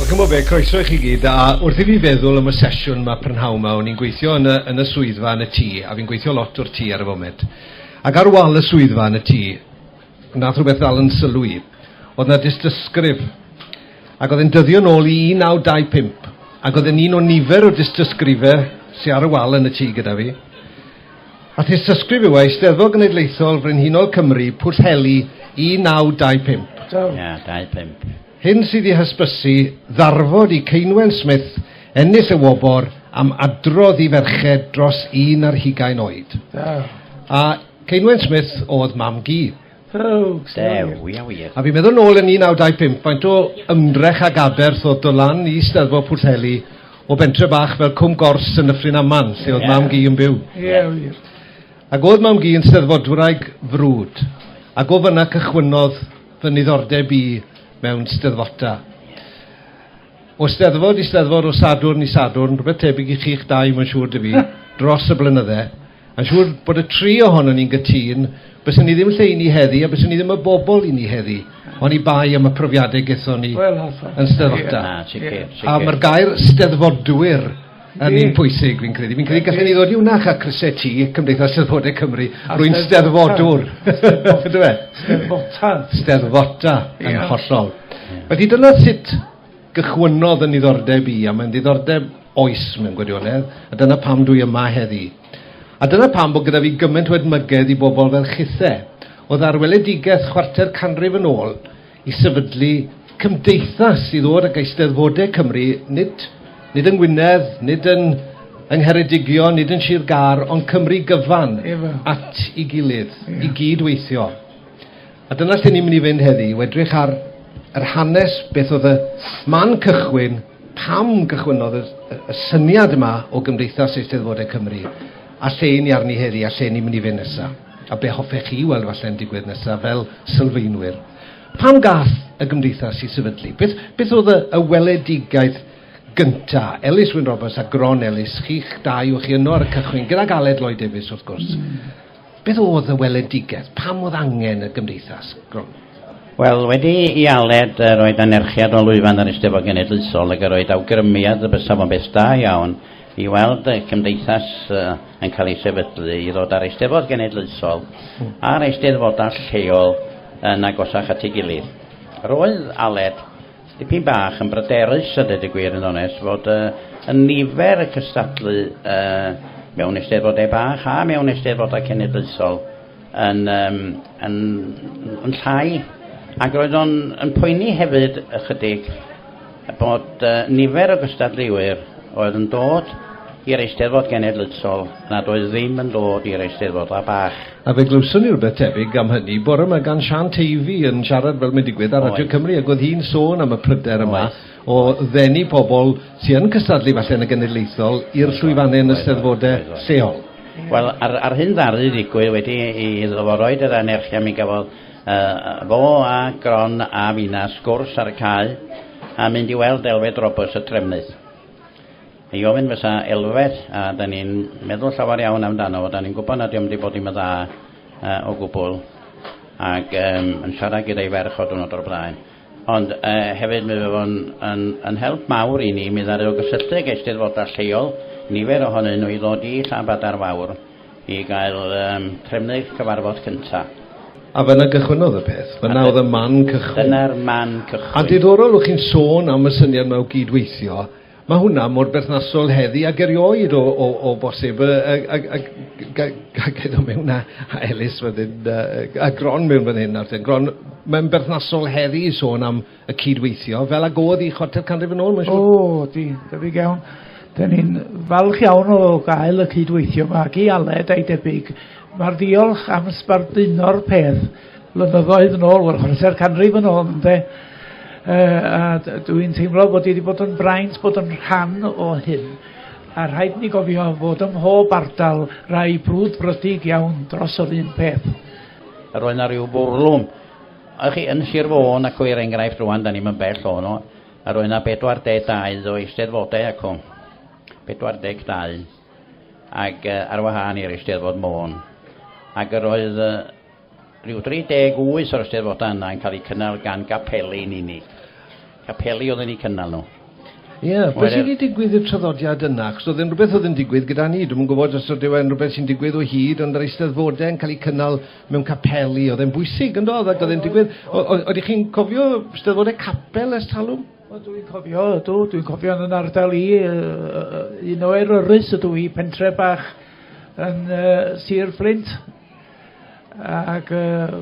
Wel, chymod be, croeso i chi gyd, a wrth i fi feddwl am y sesiwn yma prynhawn yma, o'n i'n gweithio yn y, yn y swyddfa yn y tŷ, a fi'n gweithio lot o'r tŷ ar y foment. Ac ar wal y swyddfa yn y tŷ, nath rhywbeth ddal yn sylw i. Oedd yna dystysgrif, ac oedd e'n dyddio nôl i 1925, ac oedd e'n un o nifer o dystysgrifau sy'n ar y wal yn y tŷ gyda fi. a thystysgrif yw e, Eisteddfod Genedlaethol Frenhinol Cymru, Pwllheli, 1925. Do. Ia, 25. Hyn sydd i hysbysu ddarfod i Ceinwen Smith ennill y wobr am adrodd i ferched dros un ar hugain oed. Do. A Ceinwen Smith oedd mam-gu. Oh, Dew, ia wir. A fi'n meddwl nôl yn 1925, faint o ymdrech ag aberth oedd do lan i Steddfod Pwllheli o bentre bach fel Cwm Gors yn Nyffryn Aman, lle oedd yeah. mam gi yn byw. Ie, yeah, wir. Ac oedd mam gi yn steddfodwraig frwd, ac o fyna cychwynnodd fy niddordeb i mewn steddfota. O steddfod i steddfod, o sadwrn i sadwrn, rhywbeth tebyg i chi'ch dau, mae'n siŵr dy fi, dros y blynydde. Yn siŵr bod y tri ohono ni'n gytun, byswn ni ddim lle i ni heddi a byswn ni ddim y bobl i ni heddi, ond i bai am y profiadau gethon ni well, yn Steddfodau. Yeah. A mae'r gair steddfodwyr yn un pwysig, fi'n credu. Fi'n credu gallen ni ddod i wnach a crysau ti, Cymdeithas Steddfodau Cymru, rwy'n steddfodwr. Steddfota. Steddfota, yn hollol. Felly dyna sut gychwynnodd yn niddordeb i, a mae'n ddiddordeb oes mewn gwirionedd, a dyna pam dwi yma heddi. A dyna pam bod gyda fi gymaint o edmygedd i bobl fel chithe, oedd ar weledigaeth chwarter canrif yn ôl i sefydlu cymdeithas i ddod ag eisteddfodau Cymru, nid, nid yng Ngwynedd, nid yn yng Ngheredigion, nid yn Sir Gar, ond Cymru gyfan at i gilydd, i gyd weithio. A dyna lle ni'n mynd i fynd heddi, yw edrych ar yr hanes, beth oedd y man cychwyn, pam gychwynnodd y, y, y syniad yma o Gymdeithas Eisteddfodau Cymru, a lle i ni arni heddi, a lle ni'n mynd i fynd nesaf, a be hoffech chi weld falle'n digwydd nesaf fel sylfaenwyr. Pam gath y Gymdeithas i sefydlu? Beth, beth oedd y, y weledigaeth gynta, Ellis Wyn Roberts a Gron Ellis, chi'ch dau, o'ch chi yno ar y cychwyn, gydag Aled Lloyd Davies wrth gwrs. Mm. Beth oedd y weledigaeth? Pam oedd angen y gymdeithas gronfa? Wel, wedi i Aled uh, roed anerchiad o lwyfan yr Eisteddfod Genedlaethol ac roed awgrymiad y bysaf o'n beth da iawn i weld y cymdeithas uh, yn cael ei sefydlu i ddod ar Eisteddfod Genedlaethol hmm. a'r Eisteddfodau lleol yn agosach at ei gilydd. Roedd Aled Dipyn bach yn bryderus a dweud y gwir yn onest fod y, y nifer y cystadlu y, mewn eisteddfodau bach a mewn eisteddfodau cenedlaethol yn, um, yn, yn llai ac roedd o'n yn poeni hefyd ychydig bod uh, nifer o gystadleuwyr oedd yn dod i'r eisteddfod genedlaethol nad oedd ddim yn dod i'r eisteddfodau bach. A fe glywson ni rywbeth tebyg am hynny bore 'ma gan Siân Teifi yn siarad fel mae'n digwydd ar Radio Cymru ac oedd hi'n sôn am y pryder yma o ddenu pobl sy yn cystadlu falle yn y genedlaethol i'r llwyfannau yn y Steddfodau lleol. Wel, a'r, a'r hyn ddaru ddigwydd wedi i iddo fo roed yr anerchia mi gafodd uh, fo a Gron a fina sgwrs ar y cae a mynd i weld Elfed Roberts y Trefnydd. I ofyn fysa elfeth a da ni'n meddwl llawer iawn amdano fo, da ni'n gwybod na diom di bod dim yn dda uh, o gwbl, ac um, yn siarad gyda'i ferch o diwrnod o'r blaen. Ond uh, hefyd mi fe fo'n yn, yn help mawr i ni, mi ddaru o gysylltu ag eisteddfodau lleol, nifer ohonyn nhw i ddod i Llanbadar Fawr i gael um, trefnu'r cyfarfod cyntaf. A fel y gychwynodd y peth, fe nawdd y man cychwyn. Dyna'r man cychwyn. A diddorol, o'ch chi'n sôn am y syniad mae o gyd-weithio, Mae hwnna mor berthnasol heddi ag erioed o, o, o bosib. A, a, a, a gyda mewn a, a Elis fan hyn, a, a Gron mewn fan hyn, nawr Gron, mae'n berthnasol heddi i sôn am y cydweithio, fel ag oedd i chwarter canrif yn ôl, mae'n siŵr? O, di, debyg iawn. Da ni'n falch iawn o gael y cydweithio mae ag i Aled a'i debyg. Mae'r ddiolch am sbarduno'r peth. flynyddoedd yn ôl, wel, chwarae'r canrif yn ôl, ynde? Uh, a dwi'n teimlo bod i wedi bod yn braint bod yn rhan o hyn. A rhaid ni gofio fod ym mhob ardal rai brwd brydig iawn dros yr un peth. Yr oedd yna rhyw bwrlwm. A chi yn Sir Fôn ac o'r enghraifft rwan, da ni'n bell o no. Yr oedd yna 42 o eisteddfodau ac o'n. 42. Ac uh, ar wahân i'r eisteddfod Môn. Ac yr oedd uh, Rhyw 38 o'r Eisteddfodau yna yn cael eu cynnal gan gapeli yn unig. Capeli oedd yn eu cynnal nhw. Ie, yeah, beth sydd wedi digwydd i'r traddodiad yna? Chos oedd yn rhywbeth oedd yn digwydd gyda ni. Dwi'n yn gwybod os oedd e'n rhywbeth sy'n digwydd o hyd, ond yr eisteddfodau yn cael eu cynnal mewn capeli. Oedd e'n bwysig yn dod ac oedd e'n digwydd. Oeddech chi'n cofio eisteddfodau capel ers talwm? Dwi'n cofio, ydw, dwi'n cofio yn ardal i, un o eryrus ydw i, pentre bach yn uh, Sir Flint, Ac uh,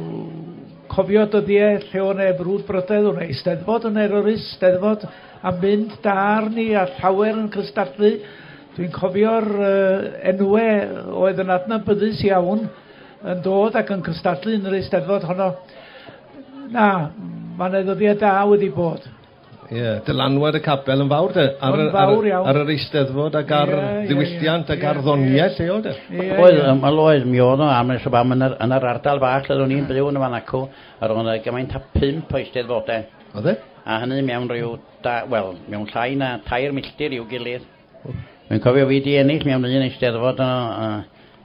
cofio dyddiau lle o'n e brwd brydedd, o'n e eisteddfod yn eroris, steddfod a mynd dar ni a llawer yn cystadlu. Dwi'n cofio'r uh, enwau oedd yn adnabyddus iawn yn dod ac yn cystadlu yn yr eisteddfod honno. Na, mae'n ddyddiau da wedi bod. Ie, dylanwad y capel yn fawr de. Ar, yn fawr iawn. Ar, ar yr eisteddfod ac ar yeah, ddiwylliant yeah, ac ar ddoniau yeah. lleol de. Yeah, oedd, yeah. Wel oedd, mi oedd o am nes o bam yn yr, yn yr ardal fach lle o'n i'n byw yn y fan acw, ar o'n gymaint a pimp o eisteddfodau. Oedd e? A hynny mewn rhyw, da, wel, mewn llai na tair milltir i'w gilydd. Mi'n cofio fi di ennill mewn un eisteddfod yno, uh,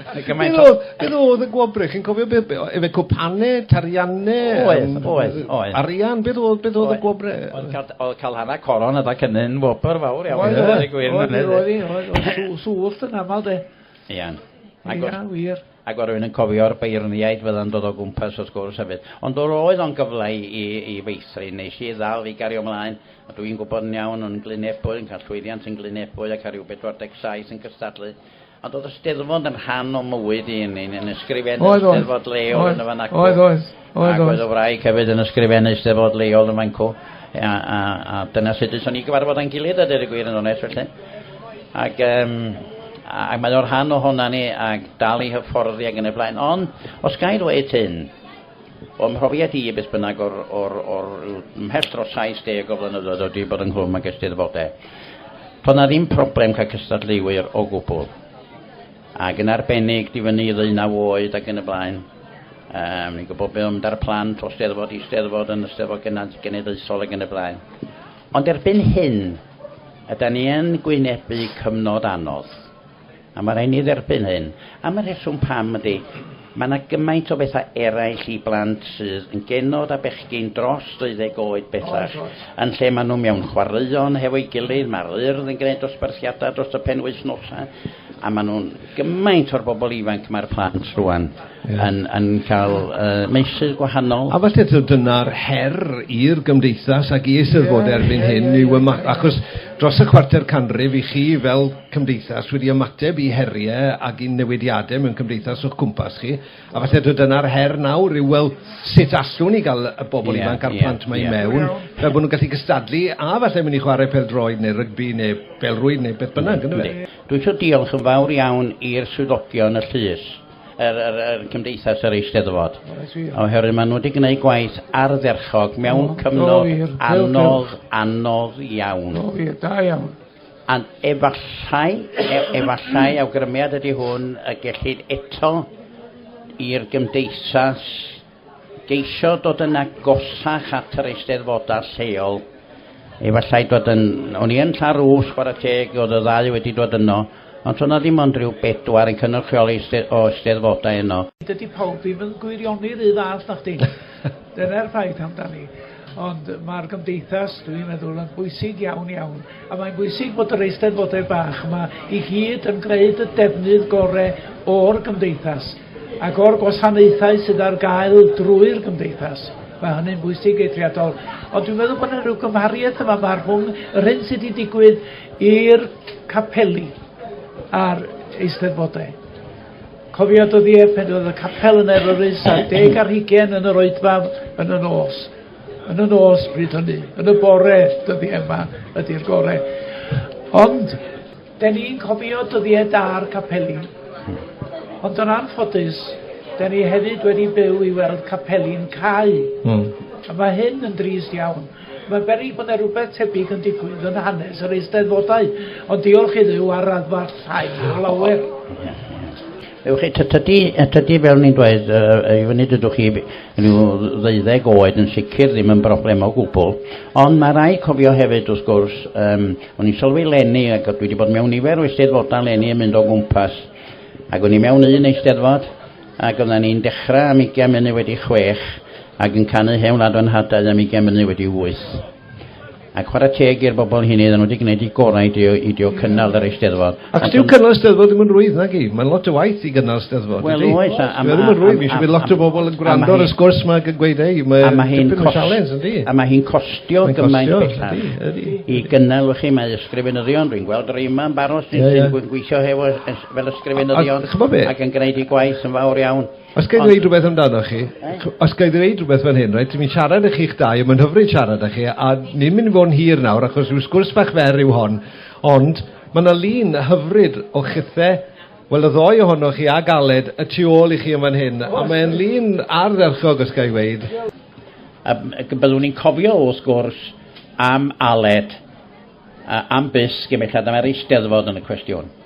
Mae gymaint o... Beth oedd y gwobrau? Chi'n cofio beth? Efe cwpane, tarianne? Oedd, oedd, oedd. Arian, beth oedd, beth oedd y gwobrau? Oedd cael hana coron yda cynny'n wobr fawr iawn. Oedd, oedd, oedd, oedd, oedd, sŵllt yn aml de. Iawn. Ia, wir. Ac oedd rhywun yn cofio'r beirniaid fydda'n dod o gwmpas wrth gwrs hefyd. Ond oedd oedd o'n gyfle i, i, i feithrin, nes i ddal i gario ymlaen. A dwi'n gwybod yn iawn o'n glunebwy, yn cael llwyddiant yn glunebwy ac ar rhyw 47 yn cystadlu Ond oedd y Steddfod yn rhan o mywyd i yn yn ysgrifennu oedd, Steddfod leol oedd, yn y fan ac oedd, oedd, oedd, oedd. oedd o wraig hefyd yn ysgrifennu Steddfod leol yn fan cw. A, a, a dyna sut ydyn ni gyfarfod a'n gilydd a dyr y gwir yn onest felly. Ac, um, ac mae o'r rhan o honna ni ac dal i hyfforddi ac yn y blaen. Ond, os gael dweud hyn, O'm mhrofiad i, beth bynnag, o'r, o'r, o'r mhell dros 70 o flynyddoedd o di bod ynghlwm ag Eisteddfodau, to' 'na ddim problem cael cystadleuwyr o gwbl, ac yn arbennig di fyny i ddeunaw oed ac yn y blaen. Um, ni'n gwybod beth mynd ar plant o Steddfod i Steddfod yn y Steddfod Genedlaethol ac yn y blaen. Ond erbyn hyn, yda ni yn gwynebu cyfnod anodd. A mae rhaid ni dderbyn hyn. Am y rheswm pam ydy, mae yna gymaint o bethau eraill i blant sydd yn genod a bechgyn dros 20 oed bellach, yn lle maen nhw mewn chwaraeon hefo'i gilydd, mae'r Urdd yn gwneud dosbarthiadau dros y penwythnosau, a maen nhw'n gymaint o'r bobl ifanc mae'r plant rŵan. yeah. yn, yn cael uh, meysydd gwahanol. A falle dyna'r her i'r gymdeithas ac i eisiau fod erbyn yeah, hyn, yeah, yeah, yeah. achos dros y chwarter canrif i chi fel cymdeithas wedi ymateb i heriau ac i newidiadau mewn cymdeithas o'ch cwmpas chi, a falle dyna'r her nawr yw, wel, sut allwn ni gael y bobl yeah, ifanc a'r yeah, plant mae yeah. mewn, fel bod nhw'n gallu gystadlu, a falle mynd i chwarae pel droed neu rygbi neu belrwyd neu beth bynnag, ynddo fe? Dwi'n siŵr diolch yn fawr iawn i'r swyddogion y llys yr, yr, yr Cymdeithas yr Eisteddfod. Oherwydd maen nhw wedi gwneud gwaith ardderchog mewn cyfnod anodd, anodd iawn. O, ie, da iawn. A efallai, e, efallai awgrymiad ydy hwn y gellid eto i'r gymdeithas geisio dod yn agosach at yr eisteddfodau lleol. Efallai dod yn... O'n i yn Llarws, chwarae teg, oedd y ddau wedi dod yno, ond o'na ddim ond rhyw bedwar yn cynrychioli o eisteddfodau yno. Dydy pawb ddim yn gwirioni rhy dda, os na chdi. Dyna'r ffaith amdani. Ond mae'r gymdeithas, dwi'n meddwl, yn bwysig iawn iawn. A mae'n bwysig bod yr eisteddfodau bach yma i gyd yn gwneud y defnydd gorau o'r gymdeithas. ac o'r gwasanaethau sydd ar gael drwy'r gymdeithas. Mae hynny'n bwysig eithriadol. Ond dwi'n meddwl bod yna rhyw gymhariaeth yma mae rhwng yr hyn sydd wedi digwydd i'r capeli a'r eisteddfodau. Cofio dod i epen oedd y capel yn erorus a deg ar hugen yn yr oedfa yn y nos. Yn y nos bryd hynny, yn y bore dyddi yma ydy'r gorau. Ond 'Den ni'n cofio dyddie da'r capeli. Ond yn anffodus, 'den ni hefyd wedi byw i weld capeli'n cau. Hmm. A mae hyn yn drist iawn. Mae'n beryg bod 'na rhywbeth tebyg yn digwydd yn hanes yr Eisteddfodau, ond diolch i Dduw ar raddfa llai o lawer. Ewch chi, tydi, tydi fel ni'n dweud, uh, i fyny dydwch chi rhyw ddeuddeg oed yn sicr ddim yn broblem o gwbl, ond mae rai cofio hefyd wrth gwrs, um, o'n i'n sylwi lenni, ac dwi wedi bod mewn nifer o eisteddfodau lenni yn mynd o gwmpas, ac o'n i mewn un eisteddfod, ac oedden ni'n dechrau am ugain munud wedi chwech, ac yn canu hewn adwen hadau am ugain munud wedi wyth. Ac chwarae teg i'r bobl hynny, ddyn nhw wedi gwneud i gorau i dio, i dio cynnal yr eisteddfod. Ac dyw cynnal eisteddfod ddim yn rwydd, na gi? Mae'n lot o waith i gynnal eisteddfod. Wel, oes. Mae ddim yn rwydd. Mae eisiau bod lot o bobl yn gwrando ar y sgwrs mae yn gweud ei. Mae hi'n sialens, ydy. A mae hi'n costio gymaint bellach. I gynnal, chi, mae ysgrifenyddion. Rwy'n gweld yr yma yn baros sy'n gweithio hefo fel ysgrifenyddion ac yn gwneud ei gwaith yn fawr iawn. Os ga'i ddweud rhywbeth amdano chi, os ga'i ddweud rhywbeth fan hyn, rhaid ti fi'n siarad â chi'ch dau, a mae'n hyfryd siarad â chi, a ni'n mynd i fod yn hir nawr, achos rhyw sgwrs fach fer yw hon, ond mae yna lun hyfryd o chithau, wel y ddoe ohonoch chi a galed y tu ôl i chi yn fan hyn, a mae'n lun ardderchog os ga'i ddweud. Um, byddwn ni'n cofio wrth gwrs am Aled, uh, am Bysg, i mellad am yr eisteddfod yn y cwestiwn.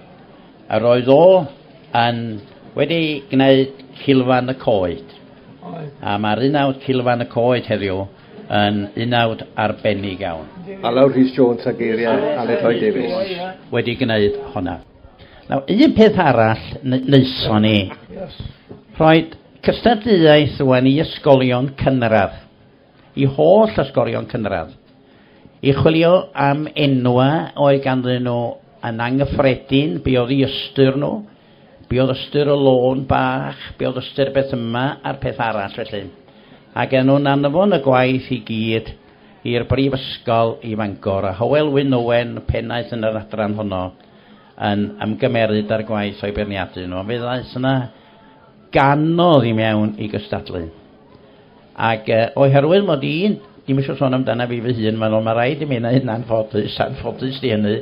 Yr oedd o yn wedi gwneud Cilfan y Coed. Oedd. A mae'r unawd Cilfan y Coed heddiw yn unawd arbennig iawn. Alaw Rhys Jones a geiriau Aled Lloyd Davies. Wedi gwneud hwnna. Nawr, un peth arall wnaethon ni, rhoi cystadleuaeth rwan i ysgolion cynradd. Y holl ysgorion cynradd. I chwilio am enwau oedd ganddyn nhw yn anghyffredin, be oedd i ystyr nhw, be oedd ystyr y lôn bach, be oedd ystyr beth yma a'r peth arall felly. Ac yn nhw'n anfon y gwaith i gyd i'r Brifysgol i Fangor, a Hywel Wyn Owen, pennaeth yn yr adran honno, yn ymgymeryd â'r gwaith o'i beirniadu nhw, ond fe ddaeth yna ganodd i mewn i gystadlu. Ac uh, oherwydd mod i, dim eisiau sôn amdana fi fy hun, mae'n mae rhaid i mi yna hynna'n ffodus, a'n ffodus di hynny,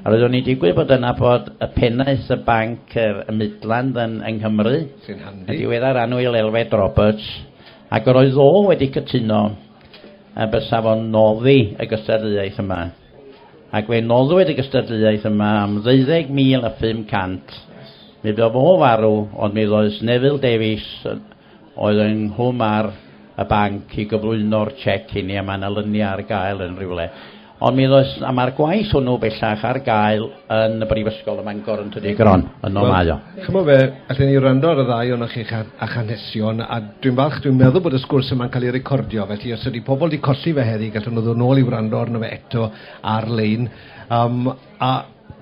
a roeddwn i'n digwydd bod yna bod y pennaeth y banc yr, y Midland yn, yng Nghymru, sy'n handi, y diweddar anwyl Elfed Roberts, ac yr oedd o wedi cytuno a bysa fo'n noddi y gystadleuaeth yma. Ac fe noddwyd y gystadleuaeth yma am 12,500. Mi bydd o farw, ond mi ddoes Neville Davies oedd yng nghwm ar y banc i gyflwyno'r chec i ni, a mae yna lyniau ar gael yn rhywle. Ond mi ddoes, a mae'r gwaith hwnnw bellach ar gael yn y Brifysgol ym Mangor yn Tydi Gron, yno well, mae o. Chymod fe, allen ni rando ar y ddau o'n chi a chanesion, a dwi'n falch, dwi'n meddwl bod y sgwrs yma'n cael ei recordio, felly os ydy pobl wedi colli fe heddi, gallwn nhw ddod nôl i wrando arno fe eto ar-lein. Um, a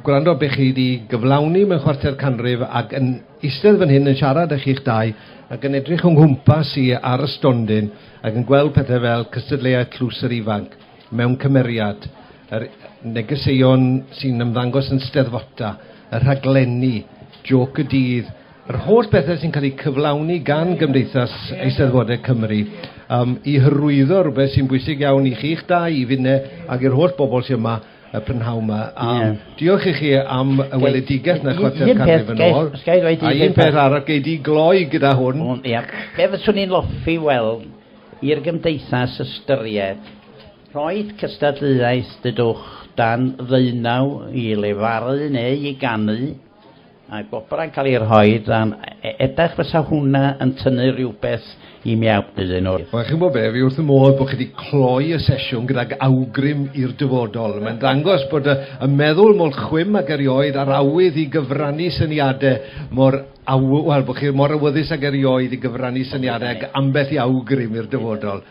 gwrando beth chi wedi gyflawni mewn chwarter canrif ac yn Eistedd fan hyn yn siarad â chi'ch dau ac yn edrych o nghwmpas i ar y stondin ac yn gweld pethau fel cystadleuaeth Tlws yr Ifanc mewn cymeriad, yr negeseuon sy'n ymddangos yn Steddfota, y rhaglenni, Jôc y Dydd, yr holl bethau sy'n cael eu cyflawni gan Gymdeithas Eisteddfodau Cymru, yym, i hyrwyddo rhywbeth sy'n bwysig iawn i chi'ch dau, i Finne ac i'r holl bobl sy' yma, y prynhawn yma. A yeah. diolch i chi am y weledigaeth na chwarter canrif yn ôl. A un peth arall, gei di gloi gyda hwn. O, ia. Be fyswn i'n loffi weld i'r gymdeithas ystyried Roedd cystadleuaeth dydwch dan ddeunaw i lefaru neu i ganu Mae gwobr yn cael ei rhoi dan edrych fysa hwnna yn tynnu rhywbeth i miawd iddyn nhw. Wel, chi'n gwybod be, fi wrth fy modd bod chi wedi cloi y sesiwn gydag awgrym i'r dyfodol. Mae'n dangos bod y, y meddwl mor chwim ac erioed a'r awydd i gyfrannu syniadau mor aw... Wel, bod chi mor awyddus ac erioed i gyfrannu syniadau ac ambell i awgrym i'r dyfodol.